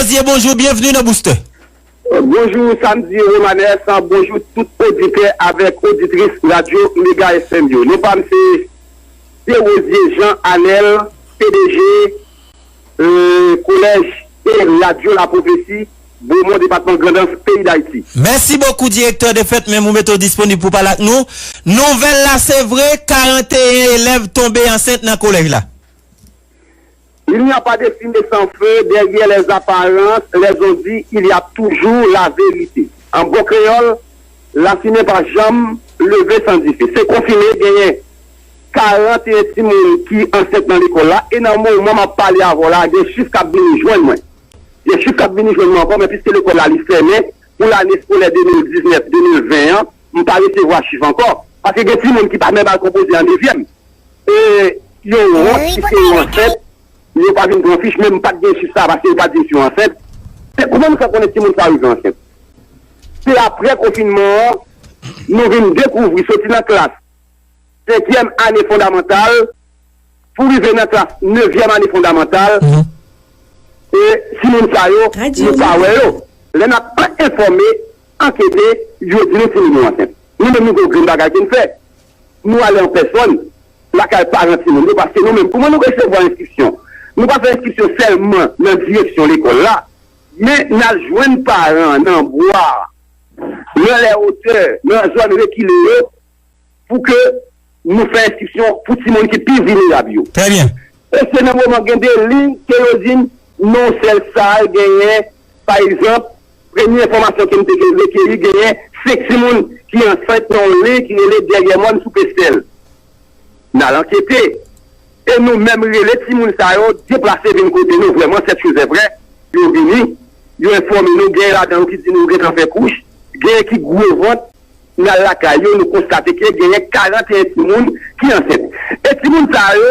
Rosie bonjou byenvni nan Boustè. Bonjou Samedi Romanes, bonjou tout oditè avèk oditris radyo Mega FM yo. Non pa m se Pye Rosie Jean Anel, pdg Kolèj e Radyo La Prophetie, Bomon, depatman Grandans, peyi Dayiti. Mèsi bokou direktè de fèt menm ou mete w disponib pou pale ak nou. Nouvèl la se vre 41 elèv tonbe ansent nan kolèj la? Il n'y a pas de fumée sans feu, derrière les apparences, les on dit, il y a toujours la vérité. An bon kreyòl, lafimen pa janm leve san dife. Se konfime genyen 41 timoun ki ansent nan lekòl la e nan moman m ap pale avè w la, gen chif k ap vini jwenn mwen. Gen chif k ap vini jwenn mwen ankò men piske lekòl la li fèmen pou lane skolè 2019, 2020 an, m pa resevwa chif ankò paske gen timoun ki pa menm al konpoze an dezyèm. E yon wont si se yon ansent, yo pa vin pran fich menm pat gen chif sa paske yo pat di si yon ansent. Se kouman nou fè konnen timoun sa rive ansent? Se aprè konfinman an nou vin dekouvri soti nan klas senkyèm ane fondamantal pou rive nan klas nevyèm ane fondamantal e timoun sa yo nou pa wè yo. Lè n ap enfòme, ankete, yo di nou timoun yo ansent. Nou menm nou gen yon grenn bagay pou n fè. Nou ale an pèsòn lakay paran timoun yo paske nou menm, kouman nou resevwa enstriksyon? Nou pa fè enstriksyon sèlman nan direksyon lekòl la, men n al jwenn paran an nan bwa, nan lè otè, nan zòn rekile yo pou ke nou fè enstriksyon pou timoun ki pi vilnerab yo. Trè byen. E se nan moman gen de liy, kerozin, non sèl sal genyen, pa egzanp. Premye enfòmasyon ke m te rekeyi genyen 5 timoun ki ansent nan yon liy ki rele Dèryè Mòn sou Pestèl. N al ankete e nou menm rele timoun sa yo deplase vin kote nou vrèman sèt cho zè vrè yo vini yo enfòme nou genyen ladan yo ki di nou yo gentan fè kouch genyen ki gwo vant n al lakay yo nou konstate ke genyen 41 timoun ki ansent e timoun sa yo.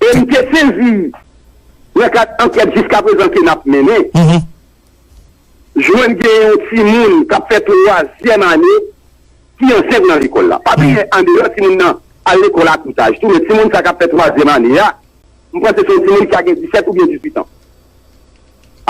e m te sezi nan kad ankèt jiskaprezan ke n ap mennen, jwenn gen yon timoun k ap fè twazyèm ane ki ansent nan lekòl la. Pa bliye andeyò timoun nan al lekòl a tout aj tou, men timoun sa k ap fè twazyèm ane a, m panse se yon timoun ki ka gen disèt oubyen dizuitan.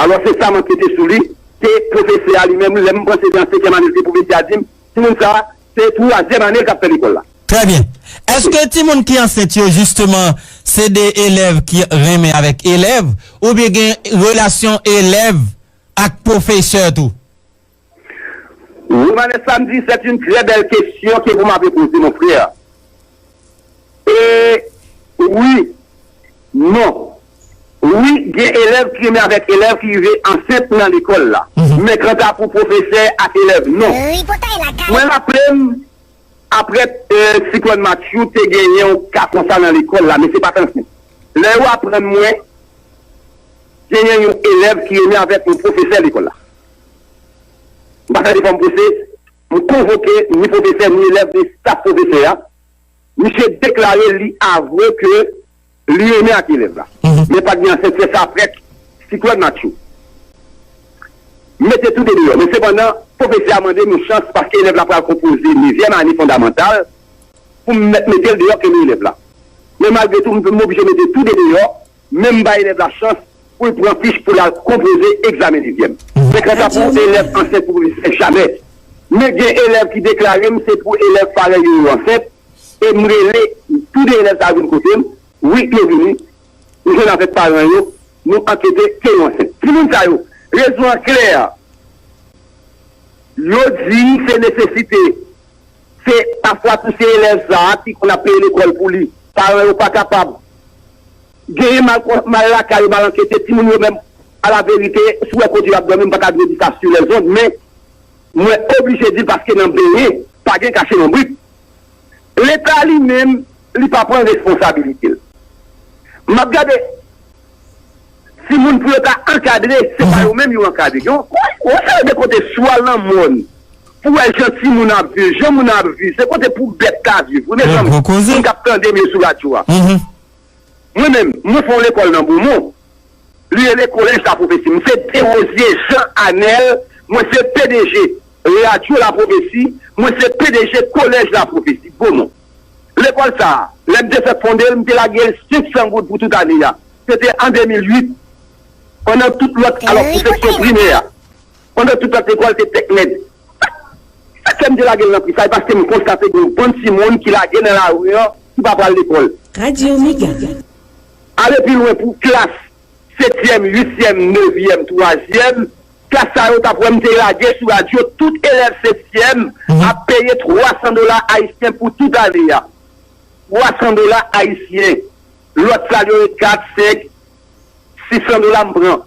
Alò se sa m ankete sou li, ke pwofesè a li menm, lè m panse se an senkyèm ane l te pwouve l te a di m, Timoun sa se twazyèm ane l kap fè lekòl la. Trè byen. Eske timoun ki ansent yo jisteman se de elèv ki renmen avèk elèv oubyen gen relasyon elèv ak pwofesè tou? Romanes Samedi, c'est une très belle question que vous m'avez posée mon frère. E, Wi. Non. Wi, gen elèv ki renmen avèk elèv ki rive ansent nan lekòl la. Men kanta pou pwofesè ak elèv, non. Mwen raple m, apre siklòn Matthew, te gen yon ka konsa nan lekòl la, men se pa t ansent. Lè yo aprann mwen genyen yon elèv ki renmen avèk yon pwofesè lekòl la, m pa fè defòm pwese. M konvoke ni pwofesè, ni elèv, ni staf pwofesè a. Misye deklare li avwe ke li renmen ak elèv la. Men pa t gen ansent fè sa prèt. Siklòn Matthew mete tou de deyò. Men sepandan, pwofesè a mande m yon chans paske elèv la pral konpoze nevyèm ane fondamantal pou m mèt mete l deyò ke li elèv la. Men malgre tou, m oblije mete tou de deyò. Menm bay elèv la chans pou l pran fich pou l al konpoze egzamen sizyèm. Se kanta pou elèv ansent pou pwofesè jamè. Men gen elèv ki deklare m se pou elèv parèy yo yo ansent e m rele tou 2 elèv sa yo vin kote m, wi yo vini, m jwenn avèk paran yo, nou ankete ke yo ansent. Timoun sa yo, rezon an klè, yo di se nesesite. Se pafwa tou se elèv sa a ki konn ap peye lekòl pou li. Paran yo pa kapab. Genyen mal kon mal lakay yo mal ankete timoun yo menm alaverite si w wè kote yo ap dòmi m pa ta dwe di sa sur les ondes men mwen oblije di l paske nan benyen pa gen kache lonbrit. Leta li menm li pa pran responsabilite l. M ap gade. Timoun pou yo ta ankadre se pa yo menm yo ankadre yo. Ou wè sa yo gen kote si w al nan mòn pou w wè jan timoun ap viv, jan moun ap viv se kote pou bèt ka viv wi mezanmi moun k ap tande m yo sou radyo a. Mwen menm mwen fè yon lekòl nan Bomon li rele Collège la Prophétie m se Derosier Jean Anel mwen se pdg radyo la prophetie mwen se pdg Collège la Prophétie Bomon. Lekòl sa a, lè m te fèk fonde l, m te lage 500 goud pou tout ane a. Se te an 2008, pandan tout lòt, alò pou seksyon primè a. Pandan tout lòt lekòl te tèt nèg. Sa k fè m te lage l nan pri sa, se paske m konstate gen yon bann timoun ki lage nan lari an, ki pa pral lekòl. Radio Mega. Ale pi lwen pou klas setyèm, uityèm, nevyèm, twazyèm. Klas sa yo tap wè m te lage sou radyo tout elèv setyèm ap peye 300 dola ayisyen pou tout ane a. 300 dola ayisyen. Lòt sal yo e 4, 5, 600 dola m pran.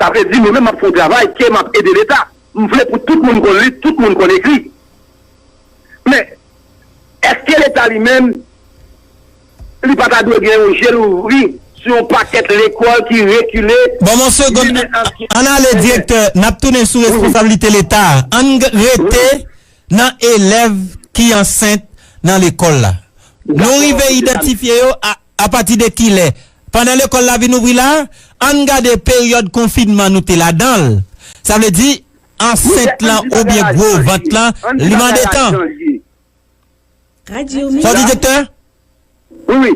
Sa vle di mwen menm m ap fè yon travay ke m ap ede leta. M vle pou tout moun konn li, tout moun konn ekri. Men, èske leta li menm. Li pa ta dwe gen yon je louvri sou yon pakèt lekòl ki rekile, Bon yon segond ann ale direktè nap tounen sou responsablite leta a ann rete nan elèv ki ansent nan lekòl la nou rive idantifye yo apati de kilè pandan lekòl la vin ouvri la ann gade peryòd konfinman nou te ladan l sa vle di ansent lan oubyen gwo vant lan li mande tan. Sa w di Doktè? Wi wi,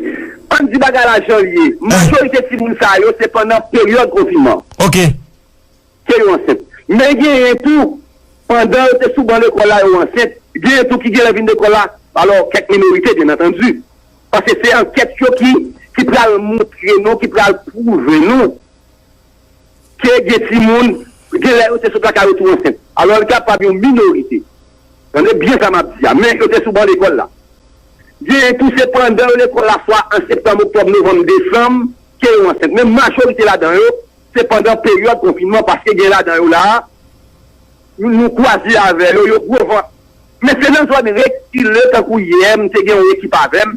ann di bagay la jan l ye, majorite timoun sa yo se pandan peryòd konfinman ke yo ansent. Men genyen tou pandan yo te sou ban lekòl la yo ansent, genyen tou ki genlè vin lekòl la, alò kèk minorite byen antandi, paske se ankèt yo ki pral montre nou, ki pral pwouve nou. te gen timoun, gen lè yo te sot lakay yo tou ansent. Alò l kapab yon minorite, tande byen sa m ap di a, men yo te sou ban lekòl la. Genyen tou se pandan yo lekòl la swa an septanm, oktòb, novanm, desanm ke yo ansent. Men majorite ladan yo se pandan peryòd konfinman paske gen ladan yo la a nou kwaze avè yo, yo gwo vant. Men se nan zòn rekile tankou yè m te gen yon ekip avè m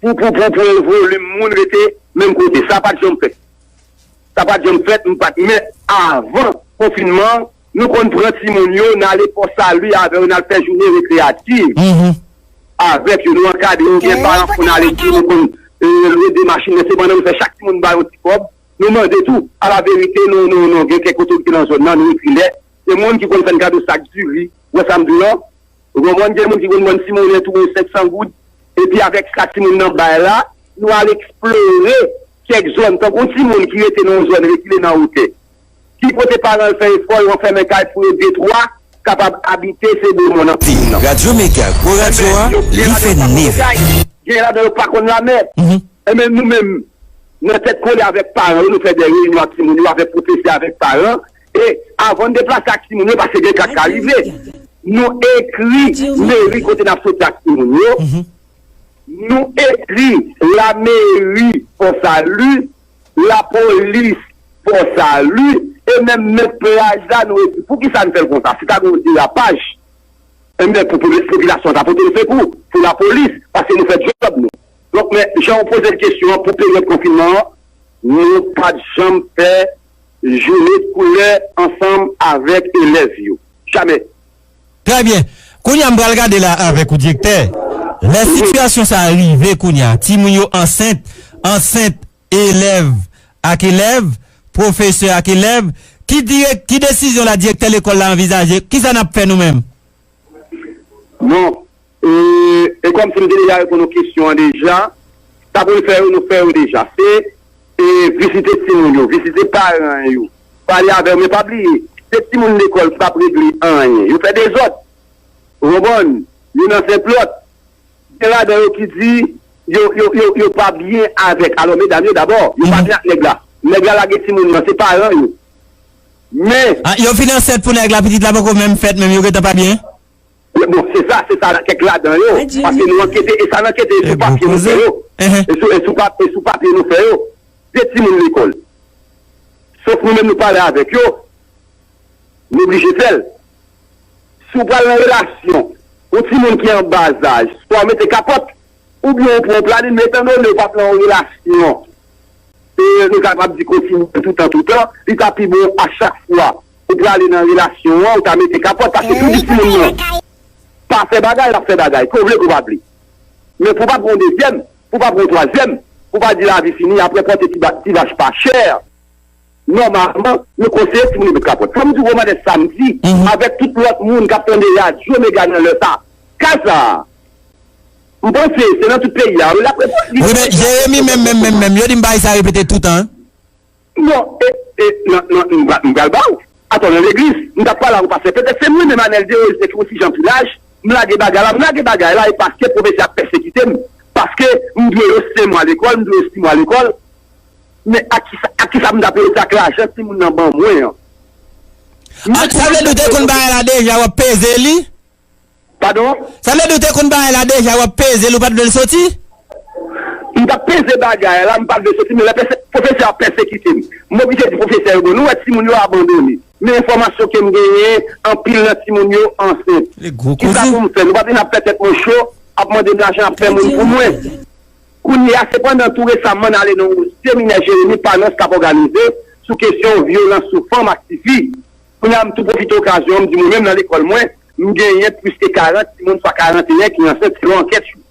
Poupoupoupouu volume moun rete menm kote sa pat janm fèt sa pat janm fèt m pat men avan konfinman an nou konn pran timoun yo nale pò salu avè yo nal fè jounen rekreyativ avèk yo nou ankadre yo gen paran k konn ale di nou konn lwe 2 machin men se pandan nou fè chak timoun ba yon ti kòb nou mande tou ala verite nou nou nou gen kèk otorite nan zòn nan nou ekri lèt se moun ki konn fèn kado sak diri ou wè sam diw lan. Ou konprann gen moun ki konn bann timoune tou bon 500 goud epi avèk sa timoun nan bay la nou al eksplore kèk zòn tankou yon timoun ki rete nan yon zòn rekile nan wotè ki kote paran l fè efò yo anfèmen kay pou yo detwa kapab abite se bo mòn anpil moun nan enben yo gen ladan yo pa konn okay gen ladan yo pa konn lamè enben nou menm nan tèt kole avèk paran yo nou fè de reyinyon ak timoun yo avèk pwofesè avèk paran. e avan n deplase ak timoun yo paske gen ka k ka rive nou ekri meri kote n ap soti ak timoun yo nou ekri lameri Fò Sali lapolis Fò Sali e menm mèt plaj la nou ekri pou ki sa n fè l konsa si ta gen yon derapaj e men pou popilasyon an ta pote l sekou pou lapolis paske nou fè djòb nou donk men jan ou poze l kesyon an pou peryòd konfinman an nou pa t janm fè Jounet koulè ansanm avèk elèv yo. Jamè. Trè byen. Kounye a m pral gade la avèk ou direktè. Lè sitiyasyon sa a rive kounye a, timoun yo ansent, ansent, elèv ak elèv, pwofesè ak elèv, ki direk, ki desizyon la direktè lekòl la anvizaje? Kisa n ap fè nou menm? Non. E kòmsi m te deja reponn ou kesyon an deja, sa pou n fè yo nou fè yo deja. Se vizite timoun yo, vizite paran yo, pale avè yo. Men pa bliye, se timoun lekòl ki pa p regle anyen. Yo fè dezòd. Ou konprann? Yo nan sentlòt. Gen ladan yo ki di yo pa byen avèk alò medam yo dabò. Yo pa byen ak nèg la. Nèg la lage timoun nan, se paran yo. Men. Yo fin ansent pou nèg la, pitit la poko menm fèt menm yo gentan pa byen? Wi bon se sa se sa kèk ladan yo paske nou ankete e sa n ankete e sou papye nou fè yo e sou papye nou fè yo de timoun lekòl sof nou menm nou pale avèk yo nou oblije fè l si w pral nan relasyon yon timoun ki an ba zaj swa w mete kapòt oubyen ou pran yon planin men etan done ou pa pran yon relasyon e nou kapab di kontinye toutan toutan, li ta pi bon a chak fwa ou prale nan relasyon an ou ta mete kapòt paske si ou di timoun nan pa fè bagay lap fè bagay ke w vle ke w pa vle men pou pa pran yon dezyèm, pou pa pran yon twazyèm pou pa di lavi fini apre pote ti vach pa chè. Nòmalman, nou konseye timoun yo met kapòt. Sa m di Romane Samdi avèk tout lòt moun k ap tande radyo Mega nan lè sa a, ka sa a, m panse se nan tout peyi a wi l ap reponn li. Wi men, Jeremi menm menm menm menm, yo di m pa eseye repete tout an. Non, e, e, nan, nan, m pra, m pral ba ou. Atò, nan legliz, m t ap pale ak yon pastè, petèt se mwen menm Anèl Dérose ki yon ti jan pi laj, m lage bagay la, m lage bagay la e paske pwofesè a pèsekite m, paske m dwe yo senmwa lekòl, m dwe yo simwa lekòl. Men ak kisa ak kisa pou m ta peye se ak lajan timoun nan ban mwen an. An sa vle di w te konn bagay la deja wap peze li? Padon? Sa vle di w te konn bagay la deja wap peze li ou pat vle l soti? M tap peze bagay la m pat vle l soti men lè pwofesè a pèsekite m m oblije di pwofesè yo bon nou wè timoun yo abandone men enfòmasyon ke m genyen anpil nan timoun yo ansent kisa pou m fè nou pa vin ap fè tèt mwen cho ap mande m lajan ap fè moun pou mwen. Kounye a, sepandan, tou resamman n ale nan yon seminè Jeremi Panos t ap òganize sou kesyon vyolans sou fanm ak tifi. Kounye a, m tou pwofite okazyon an m di mwen menm nan lekòl mwen, m genyen plis ke 40 timoun swa 41 ki ansent selon ankèt yo.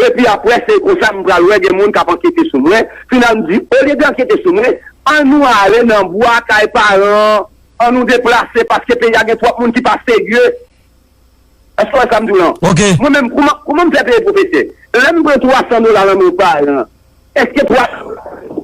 Epi apre se konsa m pral wè gen moun k ap ankete sou mwen. Final m di, olye de ankete sou mwen, an nou ale nan bwa kay paran an, an nou deplase paske peyi a gen twòp moun ki pa serye. Èske w wè sa m di w lan? Ok. Mwen menm, kouman, kouman m fè peye pwofesè? Lè m pran 300 dola lan men yon paran, èske 300 dola sa yo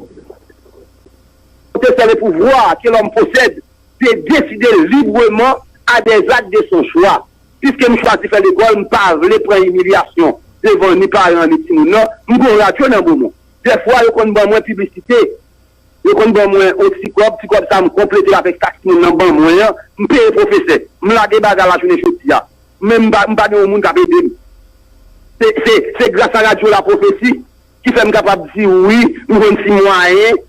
se te sèl e pouvwa ke lòm posèd de deside libreman a dè zak de son chwa? Piske m chwazi fè lekòl, m pa vle pran imilyasyon devan ni paran ni timoun lan, m gen yon radyo nan bo mwen. Dèfwa yo konn ban mwen piblisite Yo konn ban mwen on ti kòb, ti kòb sa a m konplete l avèk sa timoun nan ban mwen an, m peye pwofesè. M lage baga lajounen jodi a, men m pa m pa gen on moun k ap ede m. Se se se grasa radyo lapwofesi ki fè m kapab di ou wi, m jwenn ti mwayen.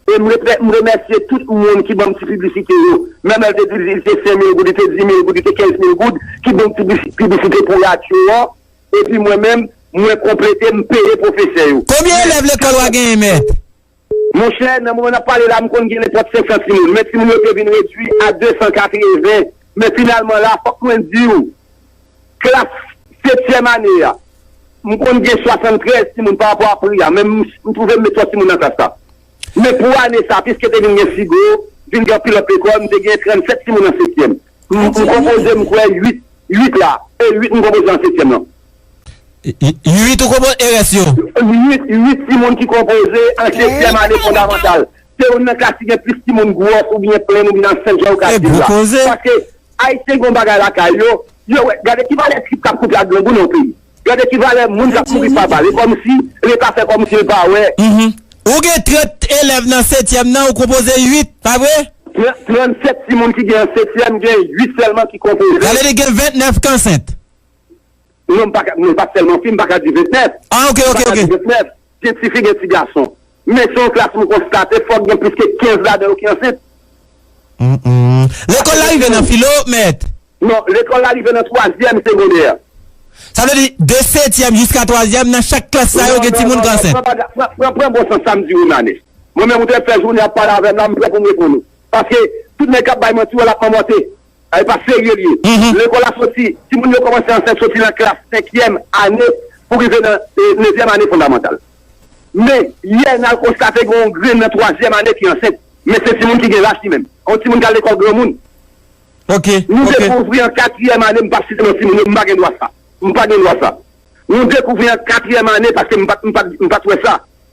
E m repè m remèsye tout moun ki ban m ti piblisite yo. Menm èl te di li te sen mil goud, li te di mil goud, li te kenz mil goud ki ban m ti plis piblisite pou radyo an. Epi mwen menm, mwen konplete, m peye pwofesè yo. Konbyen elèv lekòl w a genyen, mèt? Monchè, nan moman n ap pale la, m konn gen nenpòt 500 timoun, men timoun yo te vin redui a 280. Men finalman la, fòk mwen di ou, klas setyèm ane a, m konn gen 73 timoun parapò a pri a, men m twouve m met twòp timoun nan klas la. Men pou ane sa, piske te vin gen Sigo, vin gen anpil lòt lekòl, m te gen 37 timoun an setyèm. M konpoze m kwè 8 8 la e 8 m konpoze an setyèm lan. 8 ou konpoze e rès yo? 8 8 timoun ki konpoze an setyèm ane fondamantal. Se youn nan klas ki gen plis timoun gwòs oubyen plenn oubyen nan sèl jan ou ka di l la. Paske Ayisyen gen yon bagay lakay yo, yo wè gade ki valè trip k ap koute ak grangou nan yon peyi. Gade ki valè moun kap mouri pa bal e komsi leta fè komsi l pa wè. Mph ou gen 30 elèv nan setyèm nan ou konpoze 8 pa vre? Nan 37 timoun ki gen nan setyèm gen 8 sèlman ki konpoze. Sa vle di gen 29 k ansent? Non m paka non pa sèlman fi m paka di 29. Ah ok ok ok. Gen ti fi gen ti gason. Men se yon klas m konstate fòk gen plis ke 15 ladan yo ki ansent. Lekòl la rive nan filo, mèt? Non, lekòl la rive nan twazyèm segondè. Sa vle di, de setyèm jiska twazyèm, nan chak klas sa yo gen timoun k ansent? Non, non, non, pran, pran bon sans sa m di ou Nane. Mwen menm ou te fè jounen ap pale avè m la, m prè pou m reponn ou. Paske, tout nèg k ap bay manti yo l ap manmòte. Sa e pa serye li ye. Lekòl a soti, timoun yo kòmanse ansèy soti nan klas senkyèm ane pou rive nan nevyèm ane fondamantal. Men, yè n al konstate gen yon grenn nan twazyèm ane ki ansent. Men se timoun ki gen lach li menm. Yon timoun ki al lekòl granmoun. Nou dekouvri an katriyèm ane, m pa site non timoun yo, m pa gen dwa sa. M pa gen dwa sa. Nou dekouvri an katriyèm ane paske m pa t wè sa.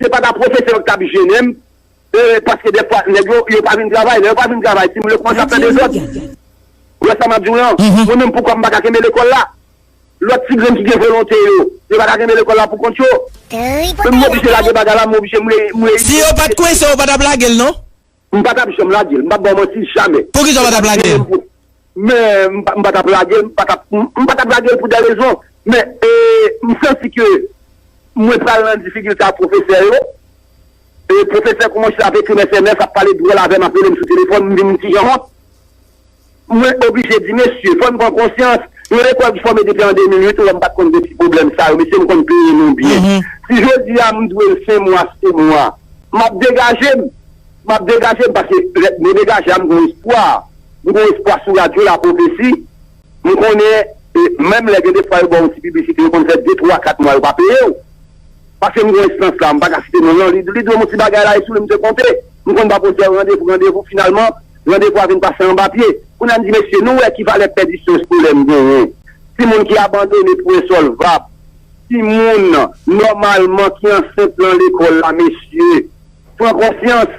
Se pa ta pwofesè yo ki ta ap jennen m, ee paske dèfwa nèg yo, yo pa vin travay. Lè yo pa vin travay, timoun yo kòmanse ap fè dezòd. Ou wè sa m ap di w lan? Mwen menm poukò m pa ka kenbe lekòl la? Lòt ti grenn ki gen volonte yo, yo pa ka kenbe lekòl la pou kont yo? Men m oblije lage bagay la, m oblije m reyini. Si yo pa t kwense w, ou pa t ap lage l non. M pa tap janm lagel m pap baw manti jamè. Poukisa ou pa tap lagel? Men m pa tap lagel m pa tap m pa tap lagel pou de rezon men e m santi ke mwen pral nan difikilte ak pwofesè yo e pwofesè koumanse ap ekri m sms ap pale dwòl avèm ap relem sou telefòn m vin m kijan wont. Mwen oblije di mesye, fòn pran konsyans, yon lekòl ki fòme depi an 2008 ou wè m pat konn gen ti pwoblèm sa yo, mesye m konn peye nou byen. Si jodi a m dwe l fen mwa se mwa, map degaje m, map degaje m paske lè m degaje a m gon espwa, m gon espwa sou radyo la pwofesi, m konnen menm lè gen de fwa yo ba w yon ti piblisite yo konn fè 2, 3, 4 mwa yo pa peye w. Paske m gen enstans la, m pa ka site non l lan, li dwe m on ti bagay la e sou li m te konte. M konn ba pwosè randevou, randevou, finalman, randevou a vin pase anba pye. Kounye a m di mesye, nou wè ki valè pèdisyon eskolè m genyen, timoun ki abandone pou ensolvab, timoun, nòmalman, ki ansent lan lekòl la mesye. Pran konsyans!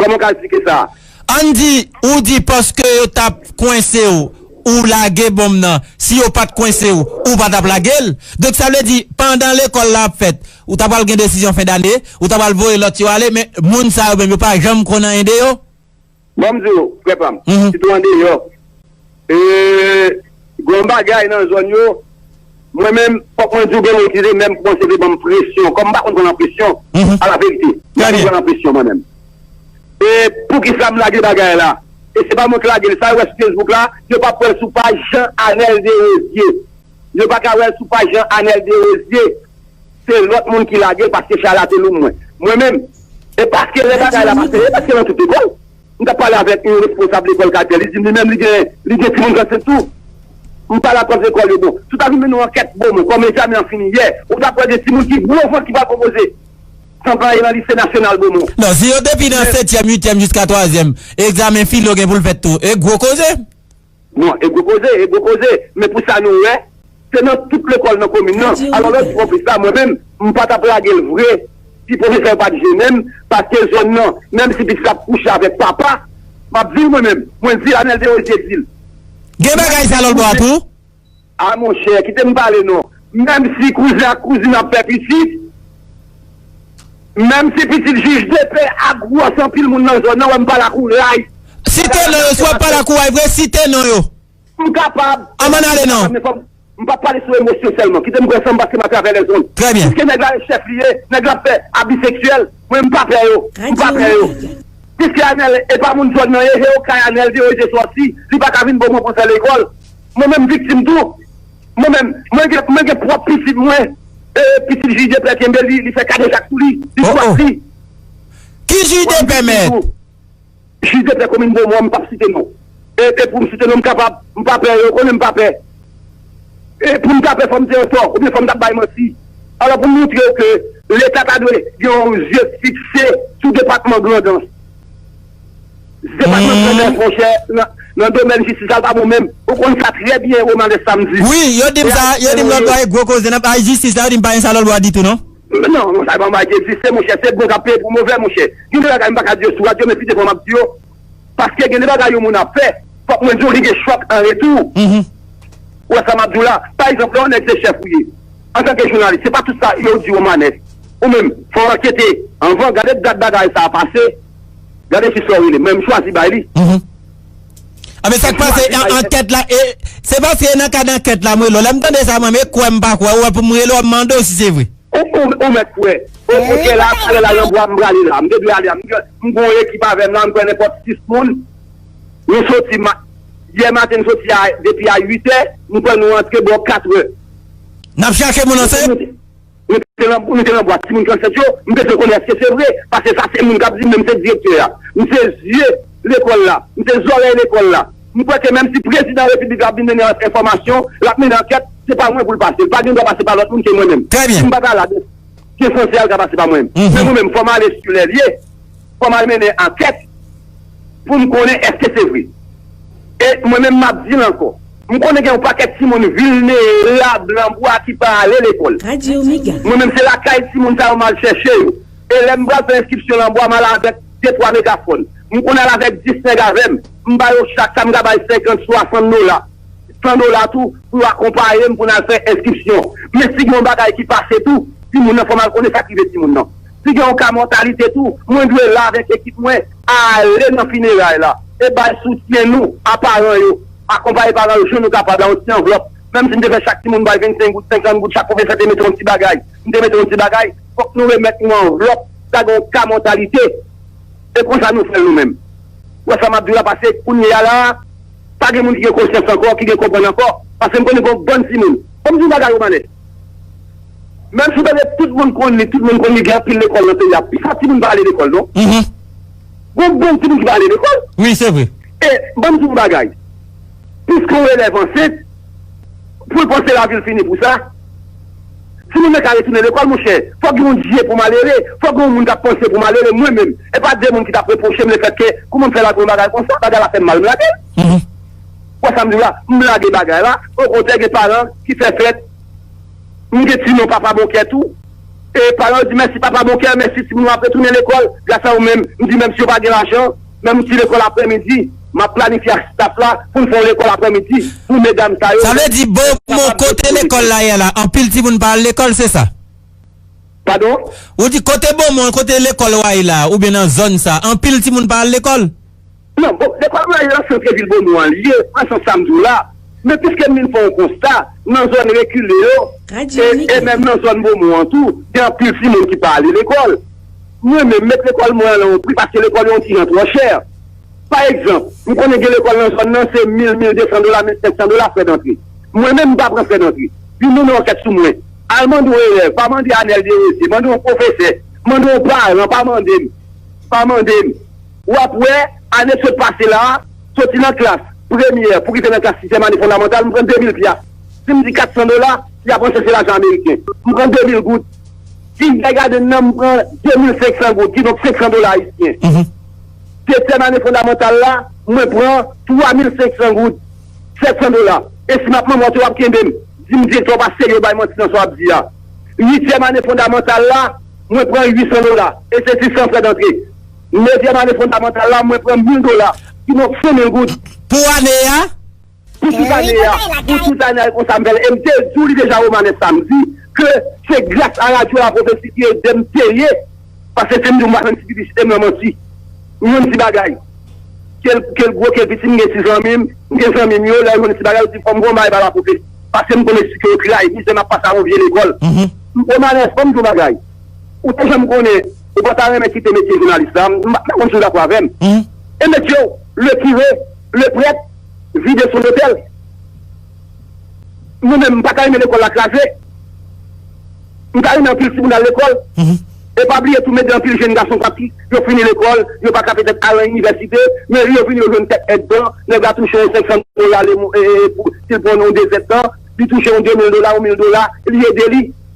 Kòman w ka esplike sa? Ann di, ou di paske yo t ap kwense w, ou lage bonm nan. Si yo pa t kwense w, ou pa t ap lage l. Donk sa vle di, pandan lekòl la ap fèt, ou ta pral gen desizyon fen dane, ou ta pral voye lòt yo ale, men moun sa yo menm yo pa janm konn anyen de yo? Bon m di w, frè pa m, sitou andeyò Eeeeh gon bagay nan zòn yo mwen menm fòk mwen diw gen moun ki te menm kòmanse te banm presyon kòm m pa konn pran nan presyon ala verite m pa konn pran nan presyon mwen menm e poukisa m lage bagay la e se pa mwen k lage l sa yo wè sou Facebook la yo pap wè l sou paj Jean Anel Derosier yo pa ka wè l sou paj Jean Anel Derosier se lòt moun ki lage l paske chay la te lou mwen mwen menm e paske lè bagay la pase e paske nan tout lekòl. M tap pale avèk yon responsab lekòl katye a, li dim li menm li gen li gen timoun San Sen tou. M pale ak pwòf lekòl yo bon, si w ta vin mennen yon ankèt bo mwen kòm egzamen an fini yè, ou tap wè gen timoun ki gwo vant ki pral pwopoze San pran e nan lise nasyonal bo mwen. Non, si yo depi nan setyèm, uityèm jiska twazyèm, egzamen filo gen pou l fèt tou, e gwo koze. Non, e gwo koze, e gwo koze, men pou sa nou wè, se nan tout lekòl nan komin nan, alò lòt pwofes la mwen menm, m pa t ap lage l vre si pwofesè yo pa t jennen m, paske zòn nan, menm si pitit la ap kouche avèk papa, m ap di l mwen menm, mwen di l Anèl te oze di l. Gen bagay sa lòlbò a tou? A monchè, kite m pale non. Menm si kouzen ak kouzin ap fè pitit, menm si pitit jij depè a gwòs anpil moun nan zòn nan wè m pale ak ou ray. Site non yo si w ap pale ak ou ray vre, site non yo. M kapab. An m ann ale non. Men fò m. M p ap pale sou emosyon sèlman. Kite m pran san m paske m atravè lèzond. Trè byen. Piske nèg la e chèf li ye, nèg la ap fè abi seksyèl, mwen m pa pè yo. M pa pè yo. Piske Anèl e pa moun zòn nan e he okay Anèl deyo e de sòsi, li pa ka vin bon moun pou l fè lekòl. Mwen menm viktim tou. Mwen menm, mwen gen, mwen gen pwòp pitit mwen, e pitit Jidepè kenbe li, li fè kadejak sou li, li Oh oh! chwazi. Ki Mwen menm Jidepè viktim mèt? tou. Jidepè komin Bomon an, m pap site non. E, e pou m site non m kapab, m pa pè, yo konnen m pa pè. E pou m ta pè fò m te an tò, oubyen fò m ta bay manti. Alò pou m montre w ke Leta ta dwe gen yon zye fikse sou depatman Grandans. Depatman Grandans monchè nan domèn jistis la pa bon menm ou konn sa trè byen Romanès sa m di. Wi yo dim sa yo dim lòt bò e gwo koze nan bay jistis la yo dim pa gen sa lòt bò ditou non. Non non sa yo pa bay jistis monchè se bon kap peye pou movè monchè gen de bagay m paka di yo sou radyo men pifò map di yo paske gen de bagay yon moun ap fè fòk mwen di w li gen chòk an retou ou wè sa map di w la pa egzanp lè yon nèg se chèf ou ye antanke jounalis se pa tout sa yo di Romanès ou menm fò w ankete anvan gade dat bagay sa pase. Gade fi sa w rele menm chwazi bay li. Uhmm Anben sak pase nan ankèt la e Se paske e nan kad ankèt la m rele w lè m tande sa mwen e kwè m pa kwè ou wè pou m rele w ap mande w si se vre. Ou mèt kwè. Ok la talè la nan bwa m prale la m te dwe ale a m gon ekip avè m la m kwè nenpòt 6 moun nou soti ma yè maten n soti a depi a 8 è m kwè nou antre bò 4 è. N ap chache moun an se. Nou te nan bwat timoun 37 yo, m bezwen konnen eske se vre, paske sa se moun k ap di m men m se direktè a. M se zye lekòl la, m se zòrèy lekòl la. M kwè ke menmsi prezidan repiblik la ap vin mennen enfòmasyon, l ap mennen ankèt, se pa mwen pou l pase. L pa gen dwa pase pa lòt moun ke mwen menm. Si m pa ta la, donk, gen sanse a l ka pase pa mwen. Men mwen menm, fò m ale si lè l ye, fò m al mennen ankèt. Pou m konnen èske se vre. E mwen menm m ap di l ankò, m konnen gen yon pakèt timoun vilnerab lan bwa ki pa ale lekòl. Mwen menm se lakay timoun sa yo m al chèche yo. E lè m pral fè enskripsyon lan bwa m al avèk de twa megafòn. M konn al avèk dis nèg avè m. M ba yo chak sa m ka bay senkant, swasann dola, san dola tou pou yo akonpaye m pou n al fè enskripsyon. Men si gen yon bagay ki pase tou, timoun nan fò m al konnen sa k rive timoun nan. Si gen yon ka mòtalite tou, mwen dwe la avèk ekip mwen ale nan fineray la e bay soutyen nou a paran yo. Akonpaye paran yo jan nou kapab la yon ti anvlòp. Menm si m te fè chak timoun bay 25 goud, 50 goud, chak pwofesè te mete yon ti bagay, m te mete yon ti bagay, fòk nou remèt yon anvlòp, sa gen yon ka mòtalite. E konsa nou fè l nou menm. Ou wè sa m ap di w la pase kounyeya la a, pa gen moun ki gen konsyans ankò, ki gen konprann ankò. Pase m konnen gen yon bann timoun. Fò m di yon bagay Romanè. Menm si pètèt tout moun konn li, tout moun konn li, gen anpil lekòl nan peyi a, pifò timoun pa ale lekòl non. Gon bann timoun ki pa ale lekòl. E, ban m di w yon bagay, piske yon elèv ansent, pou l panse lavi l fini pou sa, timoun nan ka retounen lekòl monchè. Fòk gen yon dye pou malere, fòk gen yon moun k ap panse pou malere. Mwen menm, e pa de moun ki t ap repwoche m lefètke kouman m fè lage yon bagay konsa, bagay la fè m mal m lage l. Ou wè sa m di w la? M blage bagay la. Okontrè gen paran ki fè fèt. M gen ti non Papa bon kè tou. E paran yo di mèsi Papa bon kè, mèsi timoun yo ap retounen lekòl gras a ou menm. M di menm si yo pa gen lajan, menm yon ti lekòl aprè midi, m ap planifye ak staf la pou n fè yon lekòl aprè midi pou medam sa yo. Sa vle di bon mo kote lekòl la ye la anpil timoun pa al lekòl se sa? Padon? Ou di kote bon mo an kote lekòl wa ye la oubyen nan zòn sa anpil timoun pa al lekòl? Non, bon, depa mwen al lan santre vil Bomon an li ye, nan sans sa m di w la. Men piske m vin fè yon konsta, nan zòn rekile yo, e, e menm nan zòn Bomon an tou, gen anpil timoun ki pa ale lekòl. Mwen menm, met lekòl mwen an lan yon pri paske lekòl yo yon ti jan twò chè. Pa egzanp, m konnen gen lekòl nan zòn nan se mil, mil desan dola, mil senk san dola frè dantre. Mwen menm m pa pran frè dantre. Vin mennen ankèt sou mwen. Al mande yon elèv, pa mande Anèl Derosye, mande yon pwofesè, mande yon paran, pa mande m. Pa mande m. Ou ap wè, ane sot pase la a, soti nan klas premyè pou rive nan klas sizyèm ane fondamantal, m pran demil pyas. Si m di katsan dola, y ap panse se lajan ameriken. M pran demil goud. Si y bay gade m nan, m pran demil senksan goud, kidonk senksan dola ayisyen. Setyèm ane fondamantal la, mwen pran twamil senksan goud, sètsan dola. E si m ap manmwote w ap kenbe m, di m direktè w pa serye w bay manti nan sa w ap di a. Uityèm ane fondamantal la, mwen pran uitsan dola, e se sisan frè dantre. Pou dezyèm ane fondamantal la, mwen pran 1000 dola, kidonk 5000 goud. Pou ane a? Pou tout ane a. Pou tout ane a, e konsa m fè l. E m te di w li deja Romanes Samedi ke se gras a radyo La Prophetie ki ede m peye, paske si m di w m pa fè m ti piblisite, m nan manti. M jwenn ti bagay. Ke l gwo, ke l piti, m gen ti zanmi m, m gen zanmi m yo, lè yo jwenn ti bagay, yo di fò m pran yon bagay ba La Prophetie. Paske m konn esplike yo tray, mizè m ap pase a yon vye lekòl. Romanes, fò m di w yon bagay. Ou te janm konnen ou pa ta renmen kite metye jounalis la? M pa konn si w dakò avè m. E metye w, le kire, le prèt, vide sou lotèl? Mwen menm, m pa ta renmen lekòl la kraze. M ta renmen anpil ti moun al lekòl. E pa bliye tou mètde anpil jenn gason pati, yo fini lekòl, yo pa ka petèt al nan inivèsite, men yo vini yo jwenn kèk èdtan, nèg la touche yon 500 dola le mwa, si l pran yon 2 èdtan, li touche yon 2000 dola, yon 1000 dola, li ede li.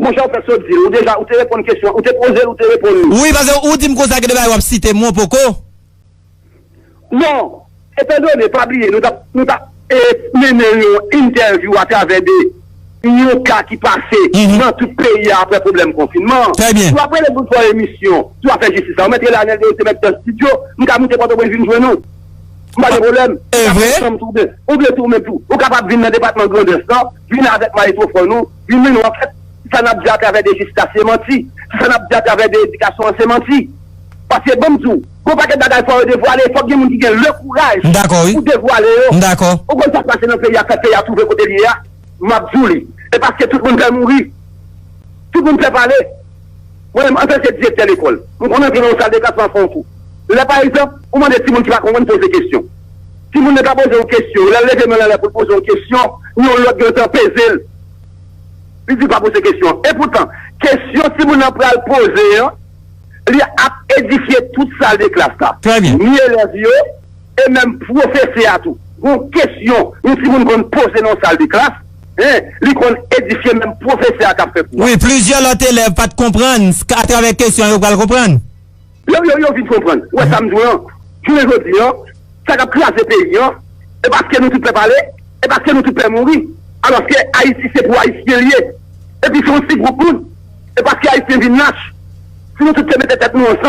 Mon chè ou fèk sot dil ou deja ou te reponn kesyon ou te pozel ou te reponn li. Wi paske ou dim konsa gen de bagay wap site mwen poko. Bon, etan done pa bliye nou tap nou tap e mennen yon entèvyou a travè de yon ka ki pase nan tout peyi a aprè pwoblèm konfinman. Trè byen. Si wap rele pou fè emisyon sou afè jistis la ou mèt rele Anel Deo se mèt Dust Studio m ka moute Pòtoprens vin jwenn ou. M pa gen pwoblèm. Evre? Ou vle tou men tou ou kapab vin nan depatman Grandans lan vin avèk maestro fò nou Wi menw an fèt si sa nap di a travè de jistis se manti si sa nap di a travè de edikasyon an se manti paske banm diw gon pakèt bagay fò yo devwale fòk gen moun ki gen le kouraj pou devwale yo ou konn sak pase nan peyi a fè peyi a twouve kotel ye a map diw li e paske tout moun pè mouri tout moun pè pale. Mwen menm, antanke direktè lekòl, m konn antre nan yon saldeklas m al fè yon kou. Lè pa egzanp, ou mande timoun ki pa konprann poze kesyon. Timoun nan ka poze yon kesyon, lè l leve men l anlè pou l poze yon kesyon, yon lòt gentan peze l, li di l pa poze kesyon an. Epoutan, kesyon timoun nan pral poze an, li ap edifye tout saldeklas la, ni elèv yo, E menm pwofesè a tou, gon kesyon yon timoun konn poze nan yon sal de klas, en, li konn edifye menm pwofesè a k ap fè kou a. Wi, plizyè lòt elèv pa t konprann s k atravè kesyon an yo pral konprann. Yo, yo, yo vin konprann. Ou wè sa m di w lan, jounen jodi an, sa k ap kraze peyi an, e paske nou tout pè pale, e paske nou tout pè mouri, alòske Ayiti se pou Ayisyen li ye, epi se yon ti gwoup moun, e paske Ayisyen vin lach, si nou tout te mete tèt nou ansanm.